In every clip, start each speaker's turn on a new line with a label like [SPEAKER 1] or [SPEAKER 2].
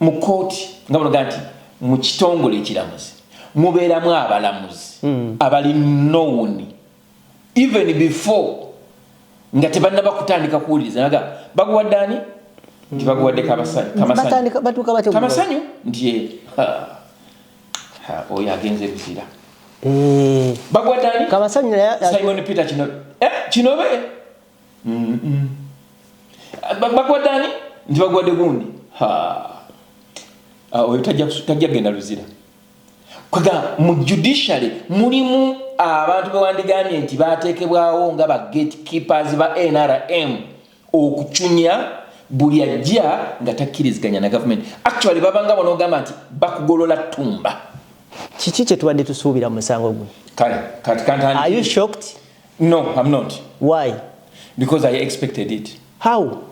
[SPEAKER 1] mu kkooti nga banoga nti mu kitongole ekiramuzi mubeeramu abalamuzi hmm. abali nowuni even before nga tebannaba kutandika kuwuliriza naga baguwadde ani nti baguwadde kamasanyu nti eh, oyo agenze buzira eh. baguwadde ani kamasanyu simon
[SPEAKER 2] peter
[SPEAKER 1] kinobe eh, bakwata ani nti bagwade gundi ah, oyo tajja genda luzira kwega mu judiciary mulimu abantu bewandigambye nti batekebwawo nga ba gate keepers ba nrm okucunya buli ajja nga takkiriziganya na gavumenti actually babanga bonogamba nti bakugolola tumba kiki
[SPEAKER 2] kyetubadde tusuubira musango gwe kale kati kantandiayu
[SPEAKER 1] shocked
[SPEAKER 2] No, I'm not.
[SPEAKER 1] Why?
[SPEAKER 2] Because I
[SPEAKER 1] expected it. How?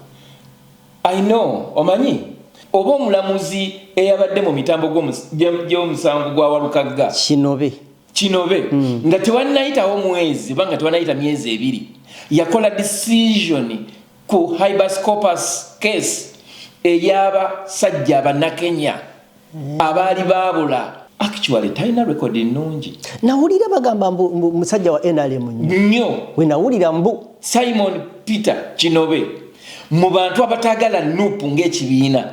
[SPEAKER 1] I know. Omanyi? Oba omulamuzi eyabadde mu mitambo gy'omusango gwa Walukagga. Kinobe. Kinobe. Mm. Nga tewannayitawo mwezi oba nga tewannayita myezi ebiri. Yakola decision ku Hibascopus case eyaba sajja banakenya. abaali baabula actually talina record nnungi nawulira bagamba
[SPEAKER 2] mbu musajja wa nrm nnyo we
[SPEAKER 1] nawulira mbu
[SPEAKER 2] simon
[SPEAKER 1] peter kinobe mu bantu abataagala nup ng'ekibiina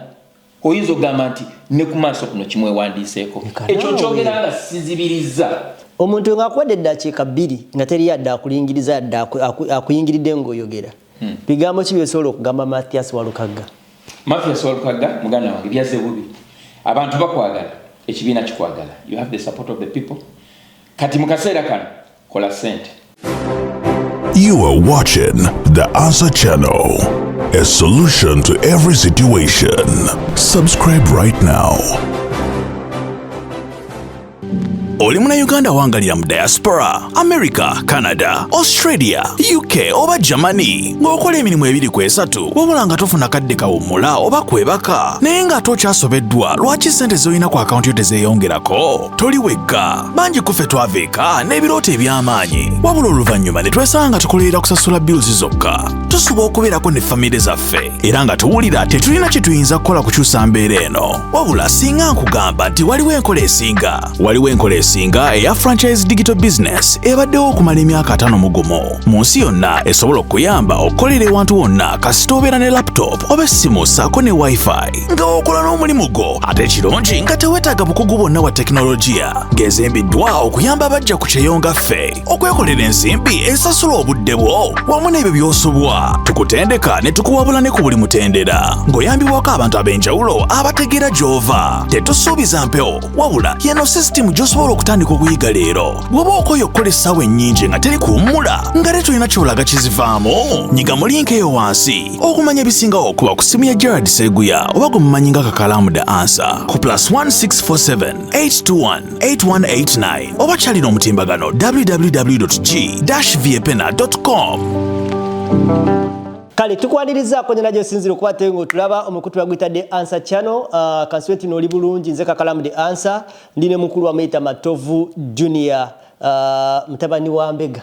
[SPEAKER 1] oyinza okugamba nti ne ku maaso kuno kimwewandiiseeko ekyo nkyogera nga sizibirizza omuntu
[SPEAKER 2] ng'akuwadde eddakiika bbiri nga teri yadde akulingiriza yadde akuyingiridde ng'oyogera Hmm. Bigambo ki byosobola okugamba Mathias Walukagga? Mathias Walukagga
[SPEAKER 1] muganda wange byazze bubi. Abantu bakwagala, ekibiina kikwagala. You have the support of the people. Kati mu kaseera kano kola sente.
[SPEAKER 3] You are watching the Answer Channel, a solution to every situation. Subscribe right now. oli munayuganda wangalira mu diaspora america canada australia uk oba germany ng'okola emirimu ebiri ku esatu wabula nga tofuna kadde kawummula oba kwebaka naye ng'ate okyasobeddwa lwaki ssente z'olina ku akawunti yo tezeeyongerako toli wekka bangi kuffe twava eka n'ebirooto eby'amaanyi wabula oluvannyuma ne twesanga nga tukolerera kusasula bills zokka tusuba okubeerako ne famire zaffe era nga tuwulira tetulina kye tuyinza kukola kukyusa mbeera eno wabula singa nkugamba nti waliwo enkola esinga waliwo enkola esinga eya franchise digital business ebaddewo okumala emyaka atano mu gumu mu nsi yonna esobola okuyamba okukolera ewantu wonna kasita obeera ne laptop oba essimu saako ne wifi nga okola n'omulimu gwo ate kirungi nga tewetaaga bukugu bwonna bwa tekinologiya gezembiddwa okuyamba abajja ku kyeyo nga ffe okwekolera ensimbi esasula obudde bwo wamu n'ebyo by'osubwa tukutendeka ne tukuwabula ne ku buli mutendera ng'oyambibwako abantu ab'enjawulo abategeera gy'ova tetusuubiza mpewo wabula yeno sisitimu gy'osobola okutandika okuyiga leero bw'oba okoye okukola essaawa ennyingi nga teri kuwummula nga tetulina kyolaga kizivaamu nyiga mu linka eyo wansi okumanya ebisingawo okuba ku ssimu ya gerard seguya oba gwe mumanyi nga kakalamu the ansa ku plus 1647 821 8189 oba kyalina omutimbagano www.g-vapena.com
[SPEAKER 2] kale tukwanirizako nyana gyosinzira okuba te ngaotulaba omukutu bagwitadde ansa channel uh, ah, kansiwe tino oli bulungi nze kakalamu de ansa ndi ne mukulu wamuyita matovu junior uh, mutabani wa mbega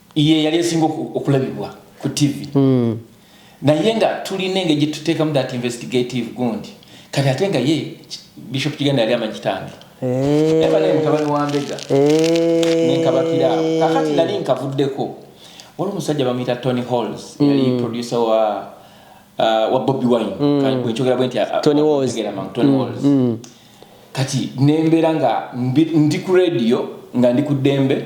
[SPEAKER 1] ye yali esinga okulabibwa ku ttivi hmm. naye nga tulina engeri gye tuteekamu that investigative gundi kati ate nga ye bishop kiganda yali amanyi kitange eh. aba naye mutabani wa mbega eh. nenkabakiraawo kakati nali nkavuddeko waliwo omusajja bamuyita tony halls hmm. yali producer wa uh, wa bobi wine hmm. bwenkyogera bwe nti uh, tony walls kati nembeera nga ndi ku radio nga ndi ku ddembe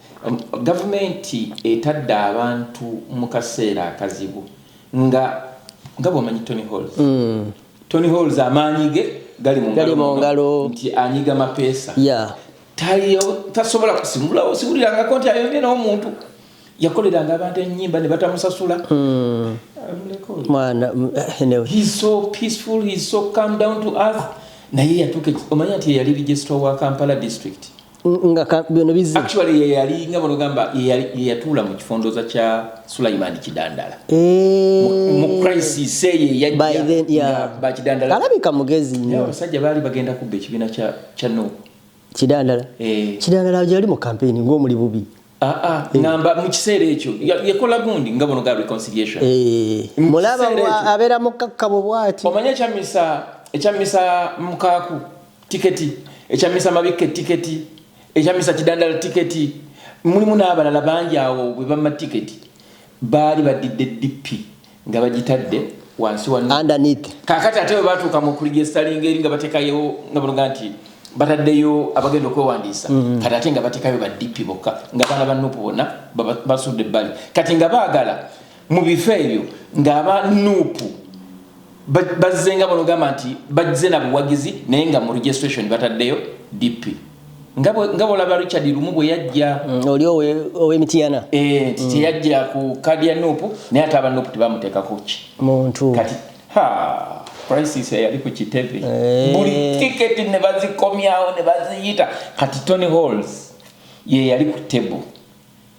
[SPEAKER 1] Gavumenti etadde abantu mu kaseera akazibu nga nga bwomanyi Tony Halls. Mm. Tony Halls amaanyi ge gali mu ngalo nti anyiga mapeesa. Yeah. tasobola kusimulawo siwulirangako nti ayonye n'omuntu yakoleranga abantu enyimba ne batamusasula hmm. naye yatuuka omanya nti yeyali registra wa kampala district nga bino
[SPEAKER 2] bizze actually ye yali nga bono
[SPEAKER 1] gamba ye yatula mu kifondoza kya Sulaiman Kidandala eh mu crisis say ye yajja by then yeah ba Kidandala alabika mugezi nyo
[SPEAKER 2] abasajja bali bagenda kubbe
[SPEAKER 1] kibina kya kya no Kidandala
[SPEAKER 2] eh Kidandala yali mu campaign ngo muli bubi Aa, ah, ngamba mu kiseera ekyo yakola gundi nga buno ga reconciliation eh, mulaba abeera mukakkabo bwati omanyi ekyamisa
[SPEAKER 1] ekyamisa mukaaku tiketi ekyamisa mabikke tiketi ekyamisa kidandala tiketi mulimu n'abalala bangi awo bwe bamma tiketi baali badidde dippi nga bagitadde wansi wa underneath kakati
[SPEAKER 2] ate batuuka
[SPEAKER 1] mu kuligestalinga eri nga batekayo nga banoga nti bataddeyo abagenda okwewandiisa mm-hmm. kati ate nga batekayo ba dp bokka nga baana ba nupu bona basudde ebbali kati nga baagala mu bifo ebyo ng'aba nupu bazzenga banogamba nti bazze na buwagizi naye nga mu registration bataddeyo dp nga bwolaba richard lumu bwe yajja mm, oli
[SPEAKER 2] owemitiyana eh, nti mm. teyajja
[SPEAKER 1] ku kadi ya nupu naye ate aba nupu tebamuteekako ki muntu kati crisis eyali ku kitebe eh. buli tiketi ne bazikomyawo ne baziyita kati tony halls ye yali ku table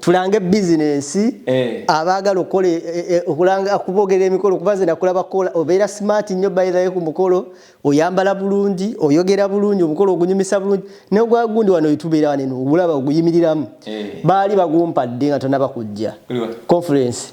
[SPEAKER 2] tulange bizinensi eh. abaagala okukola eh, eh, okulanga okuboogera emikolo kuba nze nakulaba kukola obeera smart nnyo bayirayo ku mukolo oyambala bulungi oyogera bulungi omukolo ogunyumisa bulungi negwa gundi wano wetubeera wane nogulaba oguyimiriramu baali bagumpadde nga tonaba kujja conference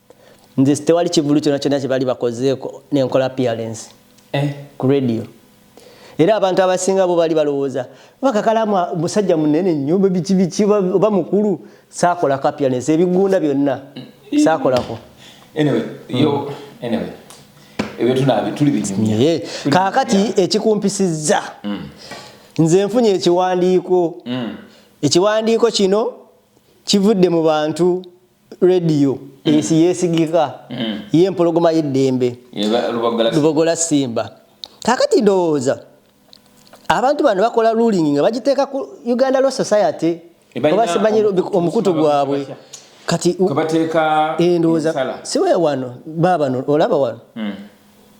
[SPEAKER 2] Nze tewali kivulu kyona kyona kyebali bakozeeko nenkola appearance eh. ku radio era abantu abasinga bo bali balowooza oba kakalamu musajja munene nnyo biki biki oba mukulu saakolako appearance ebigunda byonna saakolako
[SPEAKER 1] anyway, yo, anyway. Naye kaakati
[SPEAKER 2] ekikumpisiza mm. nze nfunye ekiwandiiko mm. ekiwandiiko kino kivudde mu bantu Radio esi mm. yesigika mm. ye mpologoma y'eddembe lubogola simba kakati ndowooza abantu bano bakola ruling nga bagiteeka ku uganda law society obasimanyi omukutu gwabwe kati
[SPEAKER 1] eh, ndowooza
[SPEAKER 2] siwe wano babano olaba wano mm.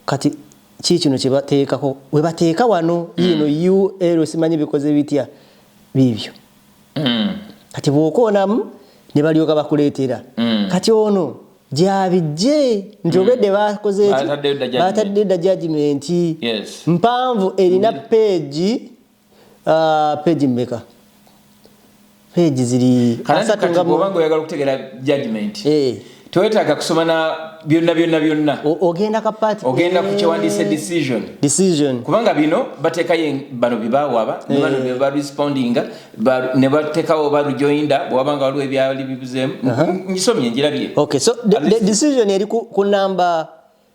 [SPEAKER 2] kati kii kino kyebateekako webateeka wano yino ul simanyi bikoze bitya biibyo mm. kati bwokoonamu ne balyoka bakuleetera mm. kati ono gyabijje nti mm. obedde bakozeeki batadde dda jajimenti mpanvu erina mm. peegi uh, peegi mmeka
[SPEAKER 1] peegi ziri asatu nga oyagala okutegeera
[SPEAKER 2] jajimenti
[SPEAKER 1] eh. tewetaaga kusoma na byonna byonna byonna ogenda ka
[SPEAKER 2] party ogenda ku kyewandiise
[SPEAKER 1] decision decision kubanga bino bateekayo bano byebawaaba ne bano eh. beba respondinga ne bateekawo ba rejoinda bwewabanga waliwo ebyali bibuzeemu uh-huh. njisomye njirabye okay so the, the
[SPEAKER 2] decision eri ku, ku namba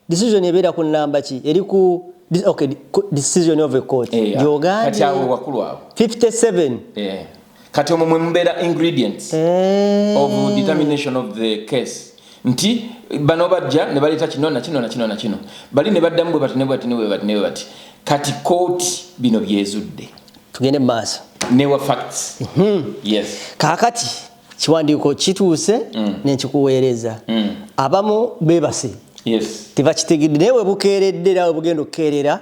[SPEAKER 2] decision ebeera ku namba ki eri ku okay decision of a court eh, ah, gyogambye kati awo wakulu awo
[SPEAKER 1] 57 eh
[SPEAKER 2] kati
[SPEAKER 1] omwo mwe mubeera ingredients eh. of determination of the case nti bano bajja ne baleeta kino na kino na kino na kino bali ne baddamu bwe bati ne bati ne bwe bati ne bwe bati kati kooti bino byezudde tugende mu maaso
[SPEAKER 2] newa facts
[SPEAKER 1] mm -hmm. yes kaakati
[SPEAKER 2] kiwandiiko kituuse mm. nekikuweereza mm. abamu bebase
[SPEAKER 1] tebakitegedde naye
[SPEAKER 2] webukeeredde era webugenda okukeerera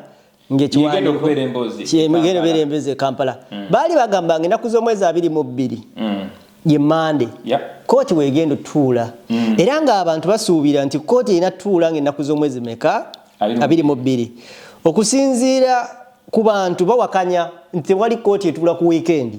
[SPEAKER 1] ngekigenda obeera emboozi
[SPEAKER 2] ekampala mm. baali bagamba nga enaku z'omwezi abiri mu bbiri ye mande kooti wegenda otuula era ngaabantu basuubira nti kooti erina tuula nga enaku z'omwezi meka abiri mu bbiri okusinziira ku bantu bawakanya nti tewali kooti etuula ku wiikendi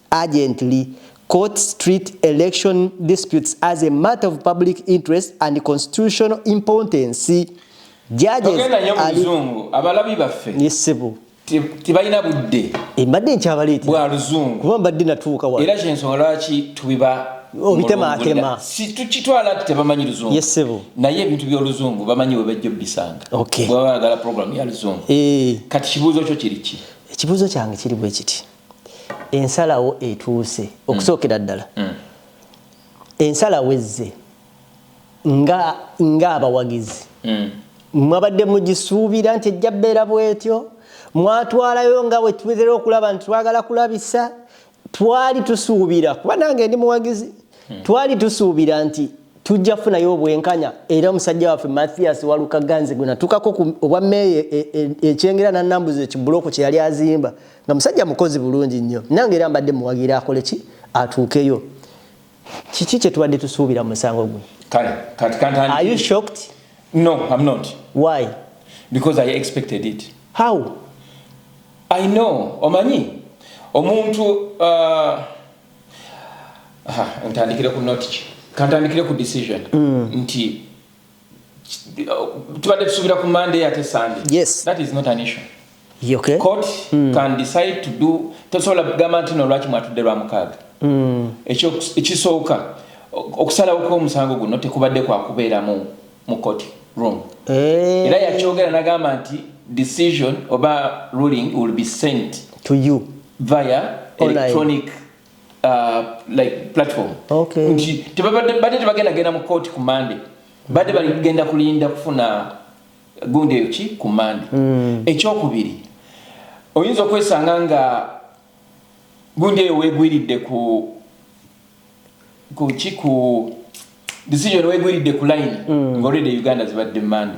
[SPEAKER 2] urgently court street election disputes as a matter of public interest and constitutional importance judgesmuzungu
[SPEAKER 1] abalabi baffe nisibu
[SPEAKER 2] tebalina
[SPEAKER 1] budde embadde nkyabaleete
[SPEAKER 2] bwa luzungu kuba
[SPEAKER 1] mbadde natuuka wa
[SPEAKER 2] era kyensonga lwaki
[SPEAKER 1] tubiba obitemaatema
[SPEAKER 2] tukitwala
[SPEAKER 1] ti tebamanyi luzungu yesebo naye ebintu
[SPEAKER 2] byoluzungu
[SPEAKER 1] bamanyi webajja obisanga bwebagala
[SPEAKER 2] programu ya
[SPEAKER 1] luzungu eh. kati kibuuzo kyo kiriki ekibuuzo kyange kiri
[SPEAKER 2] bwe kiti ensalawo etuuse okusookera mm. ddala mm. ensalawo ezze ng'abawagizi mm. mwabadde mugisuubira nti ejja bbeera bwetyo mwatwalayo nga wetubera okulaba nti twagala kulabisa twali tusuubira kuba nange ndi muwagizi hmm. twali tusuubira nti tujja kufunayo obwenkanya era omusajja waffe mathias walukaganzi gwenatukako obwa meeya e, e, ekyengera nanambuza ekibulooku kyeyali azimba nga musajja mukozi bulungi nnyo nange era mbadde muwagira akole ki atuukeyo kiki kyetubadde tusuubira musango gwe kale kati kantani are you shocked no i'm not
[SPEAKER 1] why
[SPEAKER 2] because
[SPEAKER 1] i expected it how i know omanyi omuntu uh, ntandikire ku notiki kantandikire ku decision mm. nti tubadde tusuubira ku monday ate sunday yes that is not an
[SPEAKER 2] issue
[SPEAKER 1] okay. court
[SPEAKER 2] mm. can
[SPEAKER 1] decide to do tosobola kugamba nti no lwaki mwatudde lwa mukaaga mm. ekisooka okusalawo kw'omusango guno tekubadde kwa kubeera mu mu court room eh. era yakyogera nagamba nti decision oba ruling will be sent to you
[SPEAKER 2] via
[SPEAKER 1] electronic Online. uh, like platform okay. nti
[SPEAKER 2] tebabadde badde tebagenda
[SPEAKER 1] genda mu kooti ku mande badde baligenda kulinda kufuna gundi eyo ki ku mande mm. ekyokubiri oyinza okwesanga nga gundi eyo wegwiridde ku kuki ku decision wegwiridde ku line mm. ngaolede uganda zibadde mande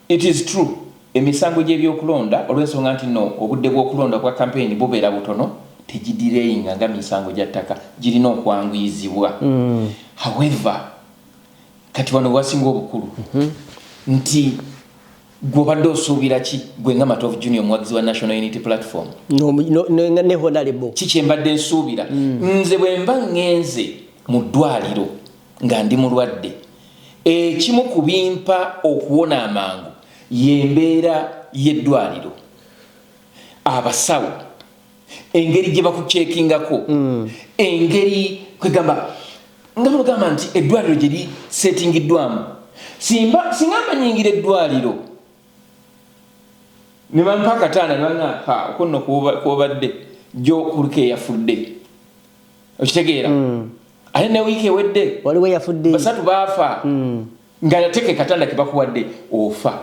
[SPEAKER 1] It is true emisango gyebyokulonda olwensonga nti no obudde bwokulonda obwa campaign bubera butono tegidireyinga nga misango gya ttaka girina okwanguyizibwa however kati wano wewasinga obukulu nti gwe obadde osuubira ki gwe nga Matovu Junior omuwagizi wa National Unity Platform No, no, no, nga ne honalebo. ki
[SPEAKER 2] kyembadde
[SPEAKER 1] nsuubira nze bwemba ngenze
[SPEAKER 2] mu
[SPEAKER 1] ddwaliro nga ndi mulwadde. Ekimu ku bimpa okuwona amangu y'embeera y'eddwaliro, abasawo, engeri gye bakuceekingako, engeri kwegamba nga bwegamba nti eddwaliro gye liseetingiddwamu. Simba, singa mba nnyingira eddwaliro ne bampa akatanda ne bannaa, ha, okwo nno kw'obadde, jjo kuliko eyafudde. okitegeera mm. ate ne wiiki ewedde waliwo yafudde basatu
[SPEAKER 2] baafa mm.
[SPEAKER 1] nga nateke katanda kebakuwadde ofa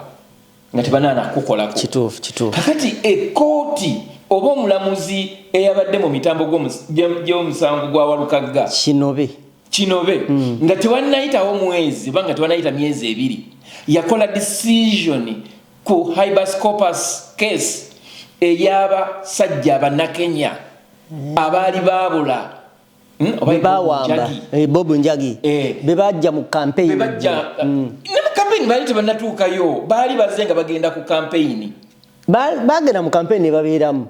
[SPEAKER 1] nga tebanaana kukolako kituufu kituufu kakati ekooti oba omulamuzi eyabadde mu mitambo gy'omusango gwa walukagga kinobe kinobe mm. nga tewanayitawo mwezi oba nga tewanayita myezi ebiri yakola decision ku hibascopus case eyaba sajja banakenya abaali baabula bebawamba
[SPEAKER 2] eh, bob njagi eh. bebajja mu kampeyini mm.
[SPEAKER 1] baali tebanatuukayo baali baze nga bagenda ku kampeyini bagenda
[SPEAKER 2] mu kampeyini nebabeeramu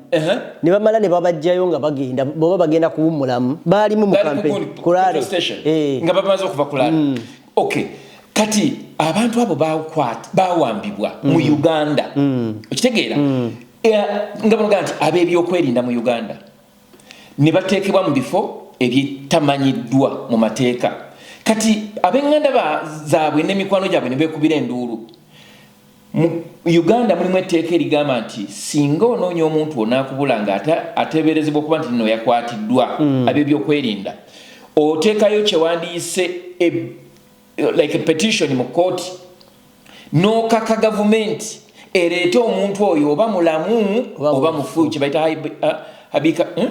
[SPEAKER 2] ne bamala ne babajjayo nga bagenda boba bagenda kuwummulamu baalimu mu kampeyini kulale eh. nga bamaze
[SPEAKER 1] okuva kulale mm. Okay. Kati abantu abo bakwat bawambibwa mm. mu Uganda. Mm. Okitegeera? Mm. Yeah, nga banoga nti ab'ebyokwerinda mu Uganda ne bateekebwa mu bifo ebyetamanyiddwa mu mateeka. Kati ab'enganda zaabwe n'emikwano gyabwe ne beekubira enduulu. Mu Uganda mulimu etteeka erigamba nti singa onoonya omuntu onaakubula nga ateeberezebwa okuba nti nno yakwatiddwa mm. ab'ebyokwerinda oteekayo kyewandiyise e, like a petition mu kkooti n'okaka gavumenti ereete omuntu oyo oba mulamu oba mufu kyebaita uh, habika hmm?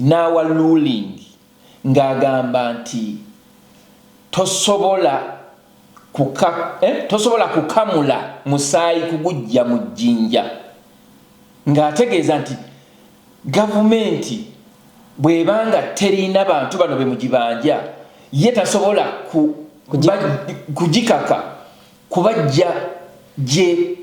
[SPEAKER 1] N'awa ruling ng'agamba nti tosobola kuka, eh, tosobola kukamula musaayi kuguggya mu jjinja ng'ategeeza nti gavumenti bw'eba nga terina bantu bano be mugibanja ye tasobola ku, kugikaka kubajja gye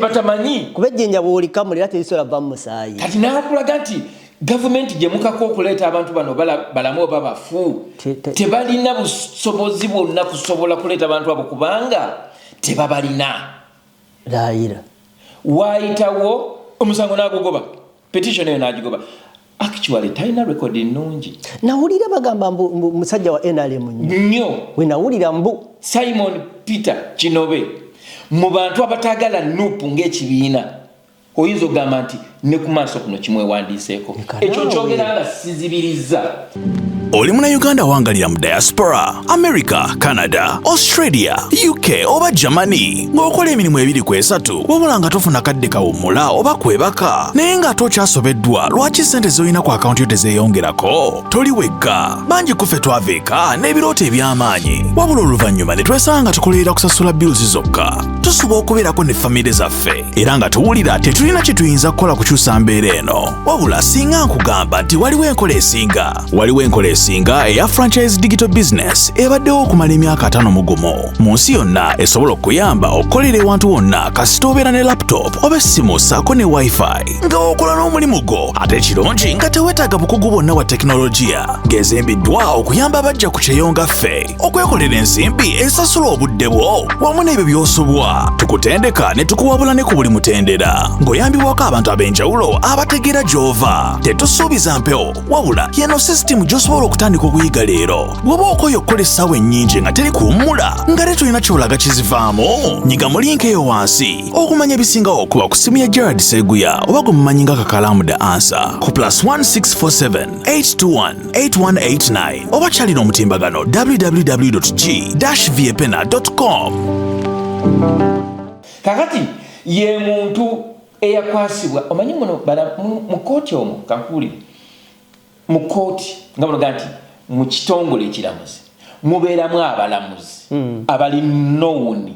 [SPEAKER 1] batamanyi kuba ejjenja bwolikamula
[SPEAKER 2] era terisobola vva mu musaayi kati nakulaga nti
[SPEAKER 1] gavumenti gyemukako okuleeta abantu bano balamu oba bafu tebalina busobozi bwonna kusobola kuleeta abantu abo kubanga tebabalina
[SPEAKER 2] laayira waayitawo
[SPEAKER 1] omusango n'agugoba petition eyo nagigoba actually talina record nnungi nawulira bagamba
[SPEAKER 2] mbu musajja wa nrm nnyo we
[SPEAKER 1] nawulira mbu
[SPEAKER 2] simon
[SPEAKER 1] peter kinobe mu bantu abatagala nup ng'ekibiina oyinza okugamba nti ne ku maaso kuno kimwewandiiseeko ekyo nkyogera nga sizibirizza oli
[SPEAKER 3] munayuganda wangalira mu diaspora america canada australia uk oba germany ng'okola emirimu ebiri ku esatu wabula nga tofuna kadde kawummula oba kwebaka naye ng'ate okyasobeddwa lwaki ssente z'olina ku akawunti yo tezeeyongerako toli wekka bangi kuffe twava eka n'ebirooto eby'amaanyi wabula oluvannyuma ne twesanga nga tukolerera kusasula bills zokka tusuba okubeerako ne famire zaffe era nga tuwulira tetulina kye tuyinza kukola kukyusa mbeera eno wabula singa nkugamba nti waliwo enkola esinga waliwo enkola esinga eya franchise digital business ebaddewo okumala emyaka atano mu gumu mu nsi yonna esobola okuyamba okukolera ewantu wonna kasita obeera ne laptop oba essimu saako ne wifi nga okola n'omulimu gwo ate kirungi nga tewetaaga bukugu bwonna bwa tekinologiya gezembiddwa okuyamba abajja ku kyeyo nga ffe okwekolera ensimbi esasula obudde bwo wamu n'ebyo by'osubwa tukutendeka ne tukuwabula ne ku buli mutendera ng'oyambibwako abantu ab'enjawulo abategeera gy'ova tetusuubiza mpewo wabula yeno sisitimu gy'osobola okutandika okuyiga leero bw'oba okoye okukola essaawa ennyingi nga teri kuwummula nga tetulina kyolaga kizivaamu nyiga mu linka eyo wansi okumanya ebisingawo okuba ku ssimu ya gerard seguya oba gwe mumanyi nga kakalamu the ansa ku plus 1647 821 8189 oba kyalina omutimbagano www.g-viepena.com
[SPEAKER 1] kakati ye muntu eyakwasibwa omanyi muno mu kooti omu kakuuli mu kooti nga bunoga nti mu kitongole ekiramuzi mubeeramu abalamuzi hmm. abali nowuni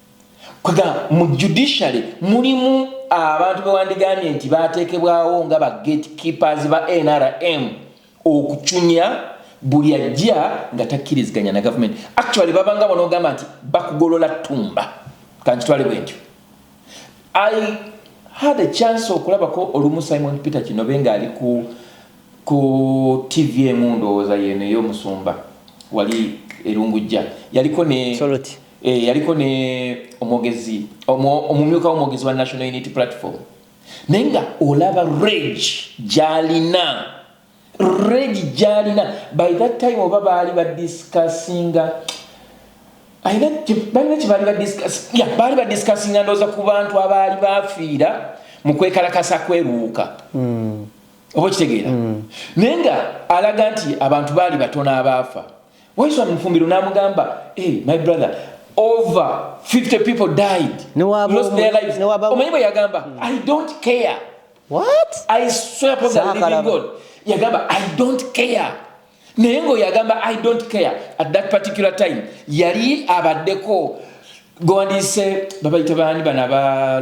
[SPEAKER 1] kwegamba mu judiciary mulimu abantu bewandigambye nti batekebwawo nga ba gate keepers ba nrm okucunya buli ajja nga takkiriziganya na gavumenti actually babanga bonogamba nti bakugolola tumba kankitwale bwentyo i had a chance okulabako olumu simon peter kinobe ngaali ku ku tv emu ndowooza yeno eyomusumba wali erungujja yaliko ne Soloti. Eh, yaliko
[SPEAKER 2] ne
[SPEAKER 1] omwogezi omumyuka womwogezi wa national unity platform naye nga olaba reg gyalina reg gyalina by that time oba baali badiscussinga balina kyebaali baali badiscussinga ndooza ku bantu abaali bafiira mu kwekalakasa kweruuka hmm. oba okitegeera hmm. naye nga alaga nti abantu baali batono abaafa Waiswa mu Fumbiro n'amugamba, hey, my brother, over 50 people died, lost their lives. Omanyi bwe yagamba, hmm. I don't care. What?
[SPEAKER 2] I swear upon
[SPEAKER 1] the living God. Yagamba, I don't care. Naye ng'oyo agamba, I don't care. At that particular time, yali abaddeko gwandiise babayita baani bano aba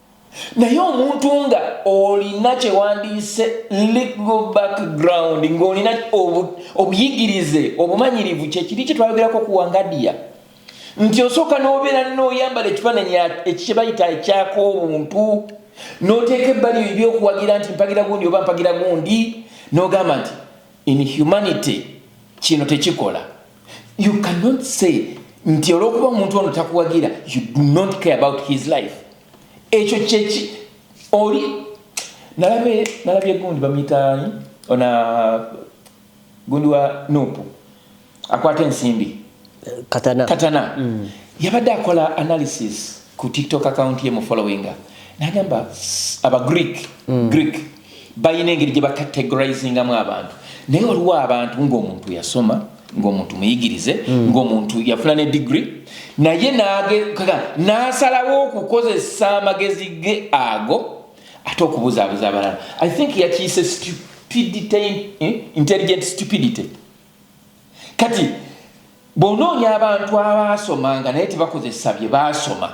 [SPEAKER 1] Naye omuntu nga olina kyewandiyise legal background nga olina obuyigirize obumanyirivu kyekiri kyetwayogerako ku wangadiya nti osooka nobeera noyambala ekifaananyi ekyebayita ekyaka obuntu noteeka ebbali ebyokuwagira nti mpagira gundi oba mpagira gundi nogamba nti in humanity kino tekikola you cannot say nti olwokuba omuntu ono takuwagira you do not care about his life ekyo kyeki oli nalabye nalabye gundi bamuyitaani ona gundi wa nupu akwata ensimbi katana, katana. Mm. yabadde akola analysis ku tiktok account ye mu followinga nagamba aba greek mm. greek balina engeri gye bacategorizingamu abantu naye waliwo abantu ng'omuntu yasoma ng'omuntu muyigirize hmm. ng'omuntu yafuna ne digiri naye n'asalawo okukozesa amagezi ge ago ate okubuzaabuza abalala i think yakiyise stupidity eh, intelligent stupidity kati bw'onoonya abantu abaasomanga naye tebakozesa bye baasoma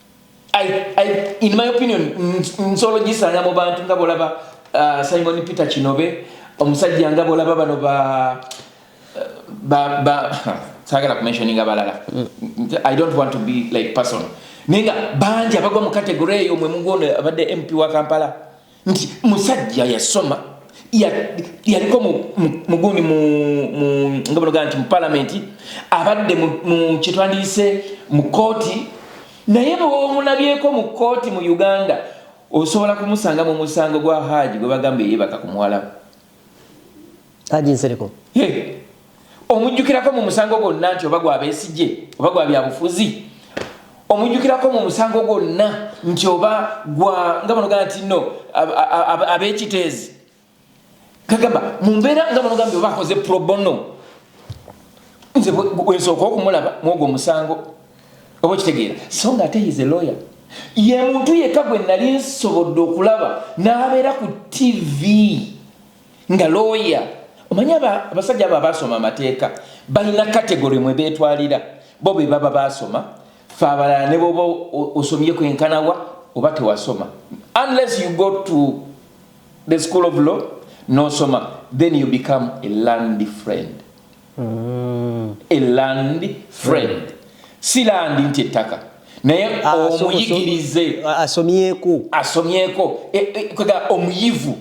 [SPEAKER 1] I, I, in my opinion nsolo gisanga mu bantu nga bolaba uh, simon peter kinobe omusajja nga bolaba bano ba ba ba sagala kumentioninga balala mm. i don't want to be like person naye nga bangi abagwa mu kategore eyo mwe mugwono abadde mp wa kampala nti musajja yasoma yaliko mugundi nga banogaa nti mu palamenti abadde mu kyetwandiyise mu kooti naye bwomulabyeko mu kooti mu uganda osobola kumusanga mu musango gwa haaji gwe bagamba eyebaka ku muwalabu
[SPEAKER 2] Haji Nsereko hey.
[SPEAKER 1] omujjukirako mu musango gwonna nti oba gwa Besigye oba gwa byabufuzi omujjukirako mu musango gwonna nti oba gwa nga banogaa nti no ab'ekiteezi kagamba mu mbeera nga banogaa nti oba akoze probono nze wensooka okumulaba mwogwo omusango oba okitegeera so nga ate is a lawyer ye muntu yekka gwe nali nsobodde okulaba n'abeera ku tv nga looya omanyi abasajja abo abaasoma amateeka balina kategori mwe beetwalira bo be baba baasoma fe abalala ne boba osomye kwenkanawa oba tewasoma unless you go to the school of law nosoma then you become a land friend a land friend si landi nti ettaka naye ah, omuyigirize ah, asomyeko asomyeko e, e, omuyivu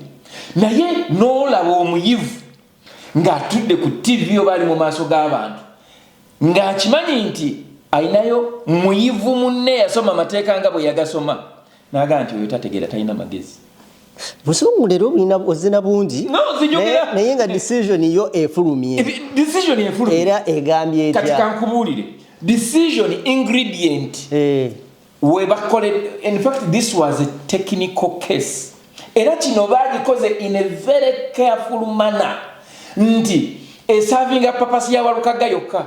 [SPEAKER 1] naye n'olaba omuyivu ng'atudde ku tivi oba ali mu maaso g'abantu ng'akimanyi nti alinayo muyivu munne yasoma amateeka nga bwe yagasoma Naga nti oyo tategera talina magezi. Busungu
[SPEAKER 2] lero bulina ozina bungi. No zijogera. Naye nga decision yo efulumye. Decision efulumye. Era egambye etya? Kati kankubulire.
[SPEAKER 1] Decision ingredient. Eh. We bakole in fact this was a technical case. Era kino bagikoze in a very careful manner. Nti esavinga papasi ya walukaga yokka.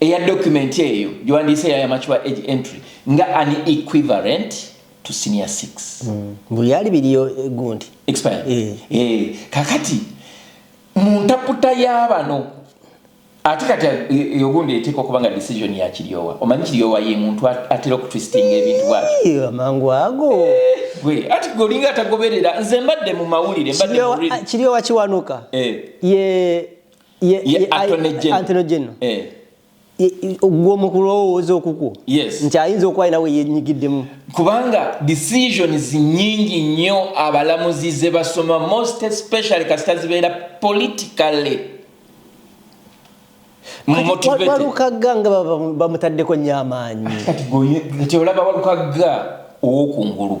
[SPEAKER 1] eya document eyo gyewandiise yaya mature age entry nga an equivalent to senior 6 mm. buli yali biriyo
[SPEAKER 2] eh, gundi expire eh. Eh.
[SPEAKER 1] kakati mu ntaputa y'abano ate kati yogundi eh, eh, eteeka okuba nga decision ya kiryowa omanyi kiryowa ye muntu atera okutwistinga ebintu bwatyo amangu ago
[SPEAKER 2] eh, gwe ati
[SPEAKER 1] gwe olinga atagoberera nze mbadde mu mawulire mbadde mu kiryowa ah, kiwanuka
[SPEAKER 2] ye ye attorney general eh. gwe mu kulowooza okukwo nti ayinza okuba alina we yenyigiddemu kubanga
[SPEAKER 1] decisions nyingi nnyo abalamuzi ze basoma most especially kasita zibeera politically walukagga nga
[SPEAKER 2] bamutaddeko nyo amaanyi kati
[SPEAKER 1] olaba walukagga owokungulu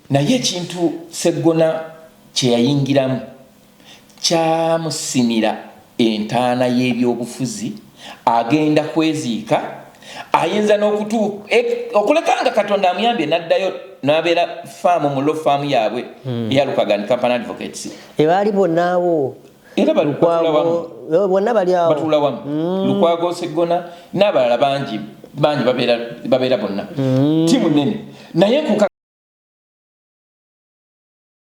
[SPEAKER 2] Naye ekintu
[SPEAKER 1] Sseggona kye yayingiramu kyamusimira entaana y'ebyobufuzi agenda kweziika ayinza n'okutu e, okuleka nga katonda amuyambye n'addayo n'abeera faamu mu lo faamu yaabwe hmm. eya lukagani company advocates ebaali bonnaawo
[SPEAKER 2] era
[SPEAKER 1] bonna bali awo batula
[SPEAKER 2] wamu mm.
[SPEAKER 1] lukwago seggona n'abalala bangi bangi babeera bonna mm. tiimu nene naye